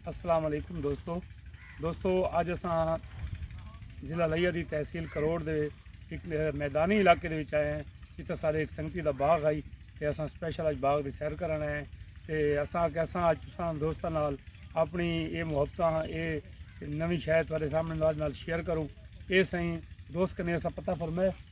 السلام علیکم دوستو دوستو اج اساں ضلع لیا دی تحصیل کروڑ دے ایک میدانی علاقے دے وچ آئے ہیں جتھے سارے ایک سنگتی دا باغ آئی تے اساں سپیشل اج باغ دی سیر کرن آئے ہیں تے اساں کہ اساں اج تساں دوستاں نال اپنی اے محبتاں اے نویں شاید تہاڈے سامنے نال شیئر کروں اے سائیں دوست کنے اساں پتہ فرمائے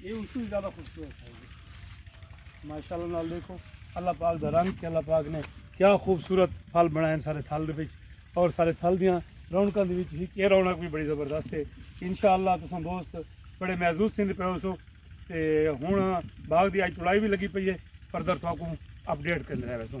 یہ اس کو زیادہ خوبصورت ہے ماشاء اللہ نال دیکھو اللہ پاک دا رنگ کہ اللہ پاک نے کیا خوبصورت پھل بنائے سارے تھل دے اور سارے تھل دیاں رونقاں دے وچ ہی کہ رونق بھی بڑی زبردست ہے انشاءاللہ تساں دوست بڑے محظوظ تھیندے پے ہو سو تے ہن باغ دی اج تڑائی بھی لگی پئی ہے فردر تھاکوں اپڈیٹ کرنے رہے ویسوں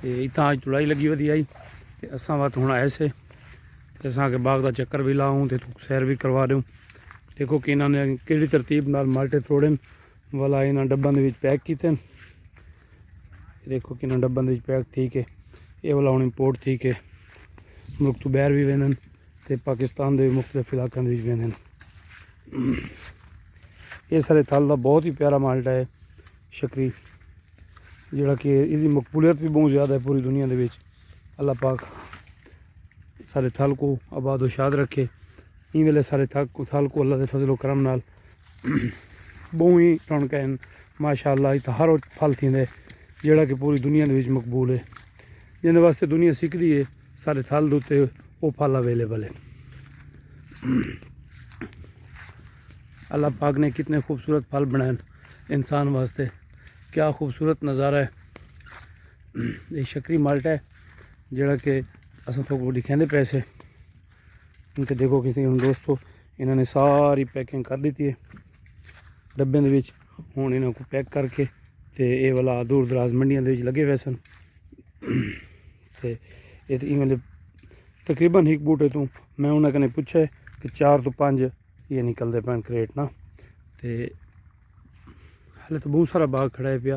تے اتھاں اج تڑائی لگی ودی آئی تے اساں وقت ہن آئے سے تے اساں کے باغ دا چکر بھی لاؤں تے تو سیر بھی کروا دیوں دیکھو کہ انہاں نے کیڑی ترتیب نال مالٹے توڑن والا انہاں ڈباں دے وچ پیک کیتے دیکھو کہ انہاں ڈباں دے وچ پیک تھی کے اے والا ہن امپورٹ تھی کے ملک تو باہر بھی ویندن تے پاکستان دے مختلف علاقاں دے وچ ویندن اے سارے تھل دا بہت ہی پیارا مالٹا ہے شکری جیڑا کہ ایندی مقبولیت بھی بہت زیادہ ہے پوری دنیا دے وچ اللہ پاک سارے تھل کو آباد و شاد رکھے این ویلے سارے تھل کو اللہ دے فضل و کرم نال بہت ہی رونقیں ہیں ماشاء اللہ اتھا ہر وہ پھل تھیندے جیڑا کہ پوری دنیا دے وچ مقبول ہے جیندے واسطے دنیا سکھدی ہے سارے تھل دے اتے وہ پھل اویلیبل ہے اللہ پاک نے کتنے خوبصورت پھل بنائے ہیں انسان واسطے کیا خوبصورت نظارہ ہے یہ شکری مالٹا ہے جڑا کہ اصل تو کو دکھیں دے پیسے ان کے دیکھو کسی ان دوستو انہوں نے ساری پیکنگ کر لیتی ہے ڈبے دے وچ ہوں انہوں کو پیک کر کے تے اے والا دور دراز منڈیاں دے وچ لگے ہوئے سن تے اے تے ایویں تقریبا ایک بوٹے تو میں انہوں نے پوچھا ہے کہ چار تو پانچ یہ نکل دے پین کریٹ نا تے ہلے تو بہت سارا باغ کھڑا ہے پیا